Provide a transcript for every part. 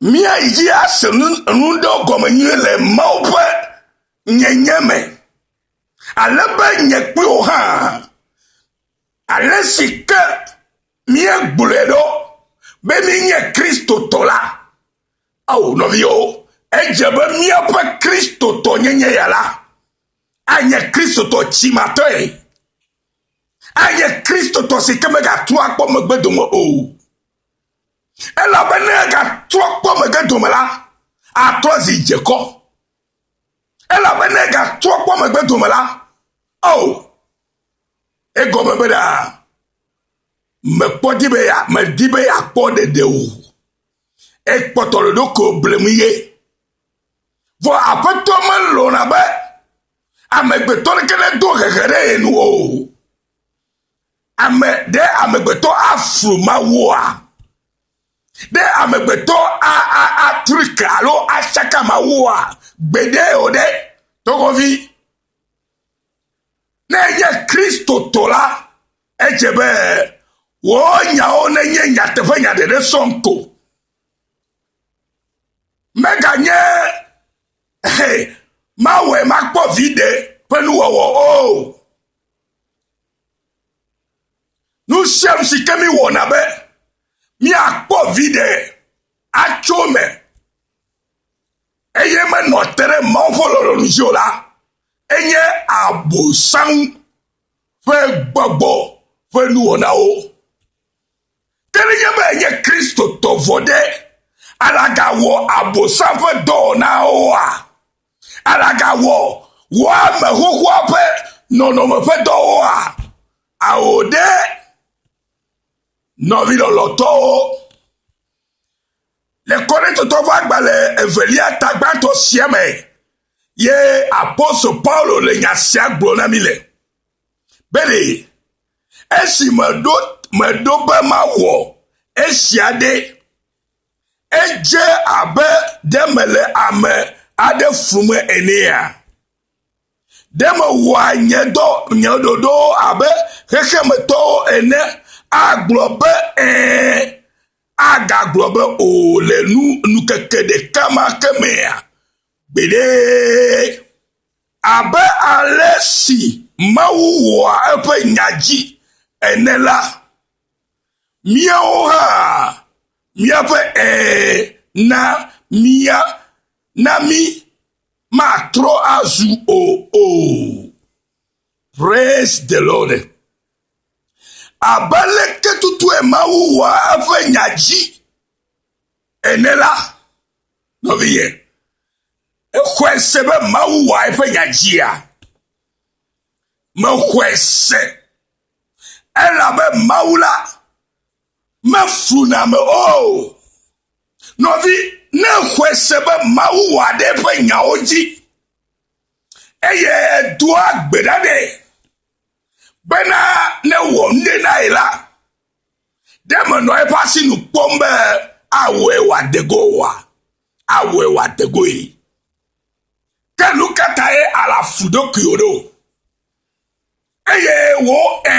Míayi dzi ase nu nu ɖewo gɔme nyuie le Mawu ƒe nyenye me, ale be nye kpli wò hã, ale si ke míegblɔe ɖo be míenye Kristotɔ la. Ao, nɔviwo, edze be míaƒe Kristotɔnyenye ya la anye Kristotɔ tsimatɔe, anye Kristotɔ si ke megatrɔ akpɔ megbe dome o. Elabe ne egatrɔ kpɔ megbe dome la, atrɔ zi dze kɔ. Elabe ne egatrɔ kpɔ megbe dome la, o, oh, egɔme be ɖa, mekpɔ di be ya, medi be yeakpɔ ɖeɖe o. Ekpɔtɔ ɖoɖo blem ye. Vɔ aƒetɔ melɔ̃na be amegbetɔ ɖeke nedo hehe ɖe ye nu o. Ame, ɖe amegbetɔ aflu Mawua? Ɖe amegbetɔ a, a, atrik alo atsaka Mawua? Gbeɖe o ɖe, togovi. Ne enye Kristotɔ la, edze be wò nyawo nenye nyateƒe nya ɖeɖe sɔŋ ko. Meganye he, mawɔe makpɔ viɖe ƒe nuwɔwɔ o. Nu sia nu si ke míwɔna be míakpɔ viɖe atso eme eye menɔ te ɖe Mawu ƒe lɔlɔ̃nu dzi o la, enye Abosam ƒe gbɔgbɔ ƒe nuwɔnawo. Ke nenye be enye Kristotɔ vɔ ɖe, alagawɔ Abosam ƒe dɔwɔnawoa? Alagawɔ wò ame xoxoa ƒe nɔnɔme ƒe dɔwoa? Ao ɖe, nɔvi lɔlɔ̃tɔwo. Le Korintotɔ ƒe agbalẽ evelia ta gbãtɔ sia me ye apostol Paulo le nya sia gblɔ na mi le. Bene, esi meɖo, meɖo be mawɔ esia ɖe, Edze abe ɖe mele ame aɖe flum enea? Ɖe mewɔa nye dɔ nye ɖoɖowo abe xexemetɔwo ene? Agblɔ be ẽ, agagblɔ be o le nu nukeke ɖeka ma ke mea? Gbeɖe! Abe ale si Mawu wɔa eƒe nya dzi ene la, míawo hã Míaƒe ɛ̃ na mía na mí matrɔ azu o o. Praise the Lord. Abe leke tutue Mawu wɔa eƒe nya dzi ene la, nɔviye, exɔe se be Mawu wɔa eƒe nya dzia? Mexɔe se. Elabe Mawu la mefuna me o. Nɔvi, ne xɔe se be Mawu wɔ aɖe eƒe nyawo dzi eye edoa gbe ɖa nɛ bena ne wɔ nu ɖe na ye la, ɖe menɔ eƒe asi nu kpɔm be awɔe wòade go oa? Awɔe wòade goe. Ke nu ka tae àle afu ɖokuiwò ɖo? Eye wò ẽ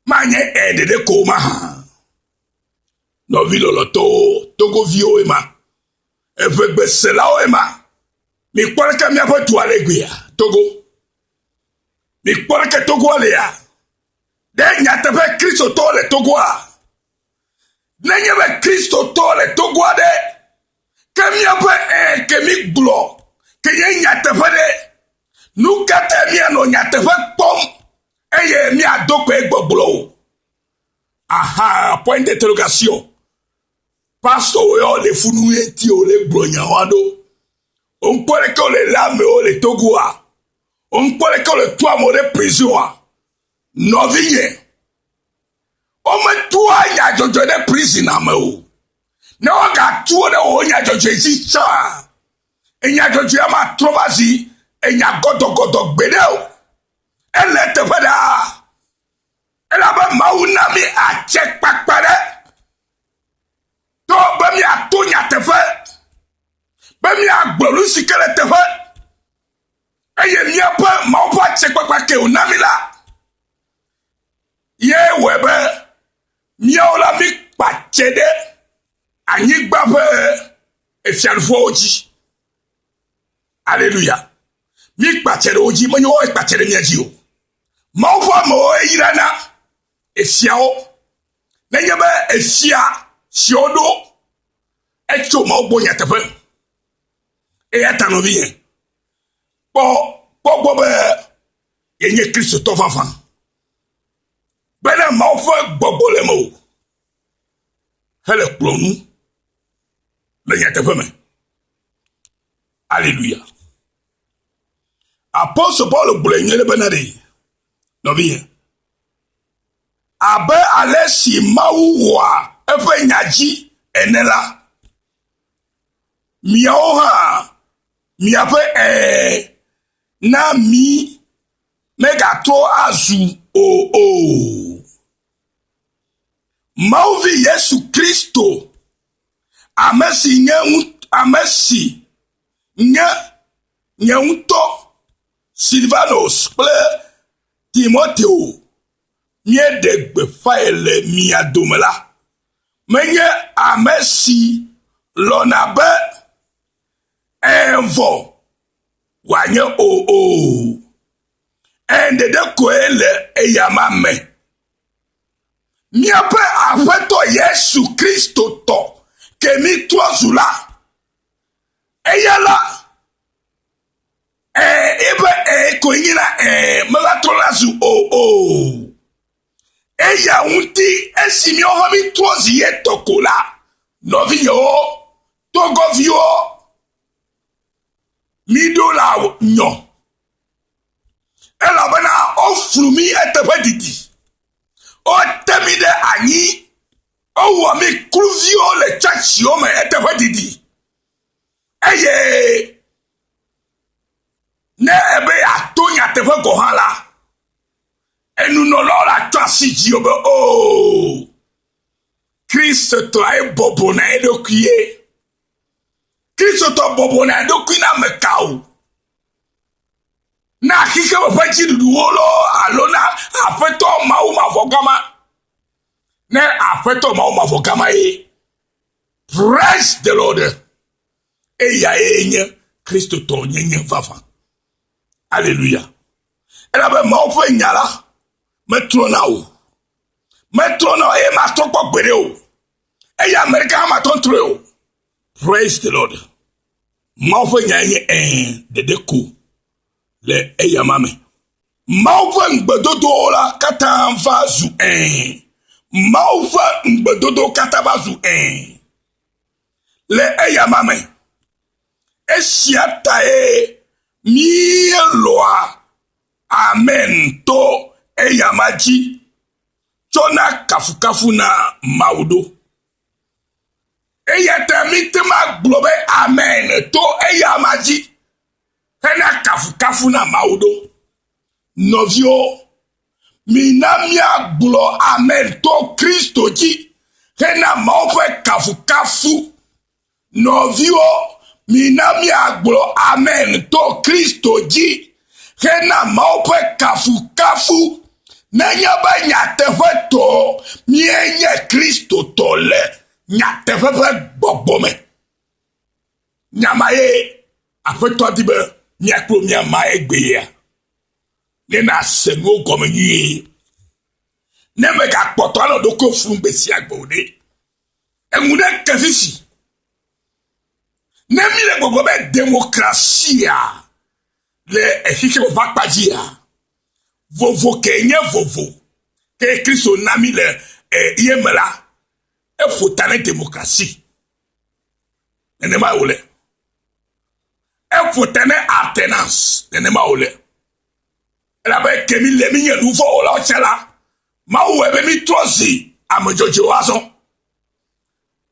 manye ẽ ɖeɖe ko mahã. Nɔvi lɔlɔtɔwo, togoviwo ema, eƒe gbeselawo ema. Mikpɔ ɖeke míaƒe dua le gbea, Togo. Mikpɔ ɖeke Togoa lea. Ɖe nyateƒe Kristotɔ le Togoa. Nenye be Kristotɔ le Togoa ɖe, Ke míaƒe ẽ ke mígblɔ ke nye nyateƒe ɖe? Nu ka tae míanɔ nyateƒe kpɔm eye míado kpee gbɔgblɔ o? Aha, point d'interrogation. Pastɔwo ya wole fu nu ŋuti o le gblɔ nya wa ɖo. Wonkpɔ ɖe ke wole lé amewo le Togo a? Wonkpɔ ɖe ke wole tu amewo ɖe prison a? Nɔvinye, wometua nyadzɔdzɔe ɖe prison a me o. Ne wogatu wo ɖe wò nya dzɔdzɔe dzi tsã, enya dzɔdzɔea matrɔ va zi enya gɔdɔgɔdɔ gbeɖe o. Ele eteƒe ɖaa, elabe Mawu na mí atse kpakpa ɖe to be míato nyateƒe, be míagblɔ nu si ke le teƒe, eye míaƒe Mawu ƒe atsekpakpa ke wòna mí la ye wɔe be Míawo la, míkpa dze ɖe anyigba ƒe efiaɖuƒewo dzi. Aleluya. Míkpa dze ɖe wo dzi, menye woawo kpa dze ɖe mía dzi o. Mawu ƒe amewo yrana efiawo. Nenye be efia si woɖo etso Mawu gbɔ nyateƒe. Eya ta nɔvinye, kpɔ kpɔ gbɔ be yenye Kristotɔ vavã. Bena Mawu ƒe gbɔgbɔ le mewò hele kplɔm nu le nyateƒe me. Aleluya. Apostol Paulo gblɔe nyuie ɖe bena ɖee, nɔvinye. Abe ale si Mawu wɔa eƒe nya dzi ene la, miawo hã miaƒe ɛ̃ na mi megatrɔ azu o o. Mawu vi Yesu Kristo, ame si nye ame si nye nye ŋutɔ Silvanus kple Timoteo míeɖe gbeƒãe le mia dome la, menye ame si lɔ̃na be ẽ vɔ wòanye o o. Eye ɖeɖe koe le eya ma me. Míaƒe Aƒetɔ Yesu Kristo tɔ ke mi trɔ zu la, eya la, ee, ebe ee koe nyi la, ee, meva trɔ la zu o o. Eya ŋuti esi míawo hã mítrɔ zi ye tɔ ko la, nɔvinyewo, tɔgɔviwo, mi ɖo la nyɔ elabena woflu mi eteƒe didi wote mi ɖe anyi wowɔ mi kluviwo le tsɔtsiwo me eteƒe didi eye ne ebe yeato nyateƒe gɔ̃ hã la enunɔlawo la tsɔ asi dzi be o oh, kristotɔe bɔbɔ na eɖokuie Kristotɔ bɔbɔna eɖokui na ame ka o? Na xexeme ƒe dziɖuɖuwo lɔ alo na aƒetɔ mawu mavɔ gama? Ne aƒetɔ mawu mavɔ gama ye. Praise the Lord. Eya ye nye Kristotɔ nyenye vava. Aleluya. Elabe mawu ƒe nya la metrɔna o. Metrɔna o eye matrɔ kpɔ gbeɖe o. Eya Amerika hã matɔ ntrɔe o. Praise the Lord. Mawu ƒe nya enye ɛɛ ɖeɖe ko le eya ma me. Mawu ƒe ŋugbedodowo la katã va zu ɛɛ. Mawu ƒe ŋugbedodo katã va zu ɛɛ le eya ma me. Esia tae míelɔa amen to eya ma dzi. tsɔna kafukafu na Mawu ɖo. Eya ta míte ŋu agblɔ be amen to eya ma dzi hena kafukafu na Mawu ɖo. Nɔviwo, mina míagblɔ amen to Kristo dzi hena Mawu ƒe kafukafu Nɔviwo, mina míagblɔ amen to Kristo dzi hena Mawu ƒe kafukafu. Nenye be nyateƒetɔe míenye Kristotɔ le nyateƒe ƒe gbɔgbɔ me. Nya ma ye Aƒetɔ di be mia kple mia ma egbea, ne nàse nuwo gɔme nyuie. Ne mègakpɔtɔ anɔ ɖokui fum gbe sia gbe o ɖe, Eŋu ɖe ke fifi. Ne mi le gbɔgbɔ be demokrasia le exixe ƒe akpa dzia, vovo ke nye vovo ke Kristo na mi le ye me la, eƒo ta ne demokrasi. Nenema wòle. Eƒo ta ne alternance. Nenema wòle. Elabe ke mi le minye nu vɔ̃ wɔlawo tsã la, Mawu wɔe be mi trɔ zi ame dzɔdzɔewo azɔ.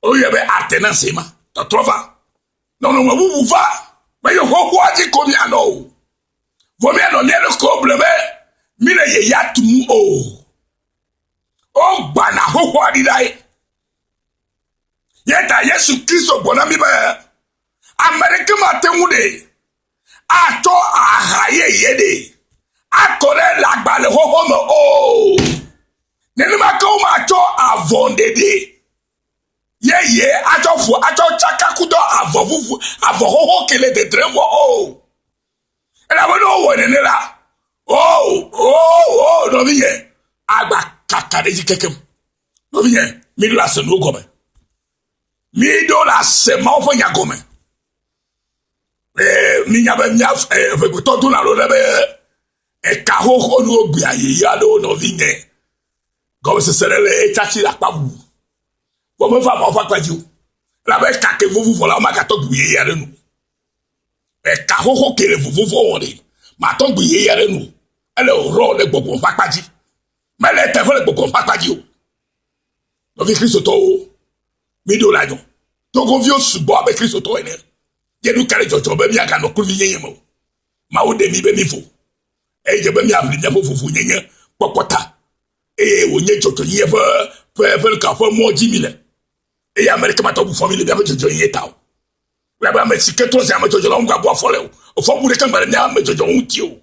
Woyɔe be ate na zema, tɔtrɔ va. Nɔnɔme bubu va, me yo xoxoa dzi ko mianɔ o. Vɔ mianɔ mia ɖokuiwo ble be mi le ye ya tum o. Wogbana xoxoa ɖi ɖae. Yeta Yesu Kristo gbɔna mi be ame ɖeke mate ŋu ɖee. atsɔ aha yeye ɖe akɔ ɖe le agbalẽ xɔxɔ me o nenema ke womatsɔ avɔ ɖeɖe yeye atsɔ ƒo atsɔ tsaka kudɔ avɔ vuvu avɔ xoxo ke le dedrem wɔ o elabene wowɔ nene la o o o nɔvinyɛ agba kaka ɖe dzi kekem nɔvinyɛ miɖo le ase nuwo gɔme miɖo le ase mawo ƒe nya gɔme Minya be mía ʋegbetɔ do na ɖo ɖe be eka xoxo nuwo gbea yeye aɖewo nɔvinye. Gɔmesese ɖe le etsa tsi le akpa ʋu. Vɔ meva ma woƒe akpa dzi o. Elabe eka ke vovo vɔ la, womagatɔ gbi yeye aɖe nu. Eka xoxo ke le vovo vɔ wɔn ɖe, matɔ gbi yeye aɖe nu. Ele rɔ le gbɔgbɔ ƒe akpa dzi. Mele teƒe le gbɔgbɔ ƒe akpa dzi o. Nɔvi Kristotɔwo, Míɖo le anyɔ togoviwo sugbɔ abe Kristotɔwo ene. Ye nu ka le dzɔdzɔm be míaganɔ kluvinyenye me o? Mawu ɖe mí be mívo, eye dze be míaʋli míaƒe vovonyenye kpɔkpɔ ta, eye wònye dzɔdzɔenyenye ƒe ƒe ƒe nu ka ƒe mɔ dzi míle, eye ame aɖeke mate ŋu fɔ mí le míaƒe dzɔdzɔenyenye ta o. Elabe ame si ke trɔ zi ame dzɔdzɔ la ŋu gabu afɔ le o, fɔbubu ɖeke mele mía ame dzɔdzɔwo ŋuti o.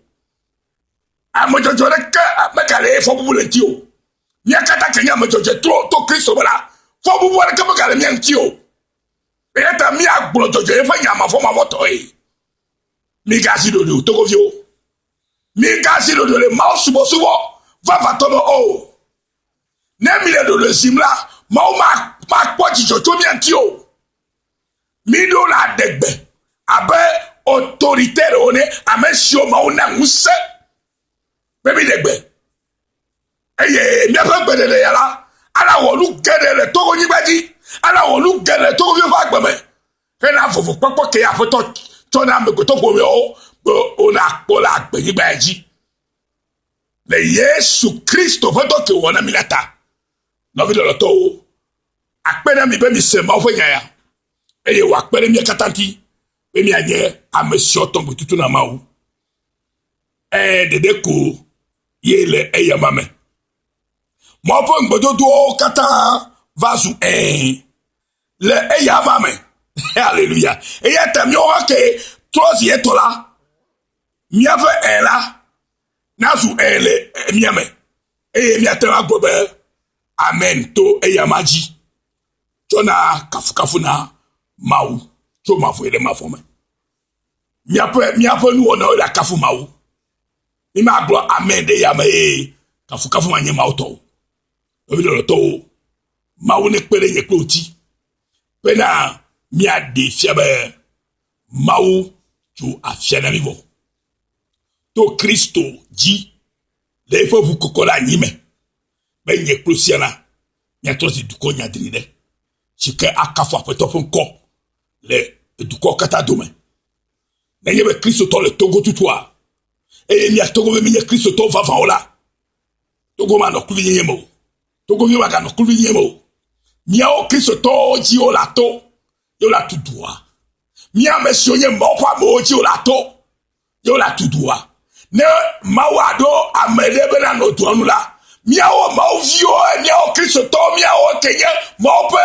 Ame dzɔdzɔ ɖeke megalee fɔbubu le ŋuti o. Mía katã ke nye ame dzɔdzɔe to, to Kristo me la, fɔbubu aɖeke megale mía ŋuti o. Eya ta míagblɔ dzɔdzɔe ƒe nya mavɔmavɔtɔe. Migazi ɖoɖoe o, togoviwo. Migazi ɖoɖoe le Mawu subɔsubɔ vavãtɔ me o. Ne mile ɖoɖoe zim la, Mawu makpɔ dzidzɔ tso mía ŋuti o. Miɖo le adegbe abe otoritɛrwo ne, ame siwo Mawu na ŋusẽ be miɖe gbe Eye míaƒe gbeɖeɖe ya la, ana wɔ nu geɖe le Togonyigba dzi, ana wɔ nu geɖe le Togoviwo ƒe agbe me, hena vovokpɔkpɔ ke Aƒetɔ tsɔ na amegbetɔƒomeawo be wonakpɔ le agbenyigba ya dzi. Le Yesu Kristo ƒe dɔ ke wòwɔ na mí la ta, nɔvi lɔlɔtɔwo, akpe na mi be mise Mawu ƒe nya ya, eye wòakpe ɖe mía katã ŋuti be míanye ame siwo tɔ gbetutu na Mawu Ee, ɖeɖe ko ye le eyama me. Mɔ ƒe ŋugbedodoawo katã va zu ee le eyama me. Haleluya. Eya ta míawo hã ke trɔ zi etɔ la, míaƒe ee la nazu ee le mía me eye míate ŋu agblɔ be amen to eyama dzi tsɔna kafukafu na Mawu tso mavɔe ɖe mavɔ me. Míaƒe, míaƒe nuwɔnawo le akafu Mawu. Mímagblɔ amɛ ɖe yame ye kafukafu manye Mawu tɔ o. Nɔvi lɔlɔtɔwo, Mawu nekpe ɖe nye kple ŋuti bena míaɖee fia be Mawu tso afia na mí vɔ. To Kristo dzi le eƒe ʋu kɔkɔ ɖe anyi me be nye kple siana míatrɔ zi dukɔ nyadri ɖe si ke akafu Aƒetɔ ƒe ŋkɔ le dukɔ katã dome. Nenye be Kristotɔ le Togo tutua, eye mía Togo be menye Kristotɔ vavãwo la, Togo manɔ kluvinyenye me o. Togo vi maganɔ kluvinyenye me o. Míawo Kristotɔwo dzi wole ato, ye wole atu dua. Mía ame siwo nye Mawu ƒe amewo dzi wole ato. ye wole atu dua. Ne Mawu aɖo ame ɖe be nanɔ dua nu la, míawo Mawu viwo, míawo Kristotɔwo, míawo ke nye Mawu ƒe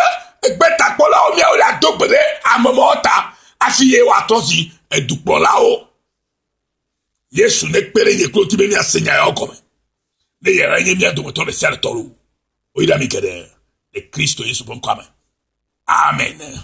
gbetakpɔlawo, míawo le ado gbe ɖe ame mawo ta hafi ye woatrɔ zi edukplɔlawo. Yesu nekpe ɖe nye kloti be míase nya yawo gɔme. Ne yehã nye mía dometɔ ɖe sia ɖe tɔ loo, woyra mi geɖe le Kristo Yesu ƒe ŋkɔa me. Amen.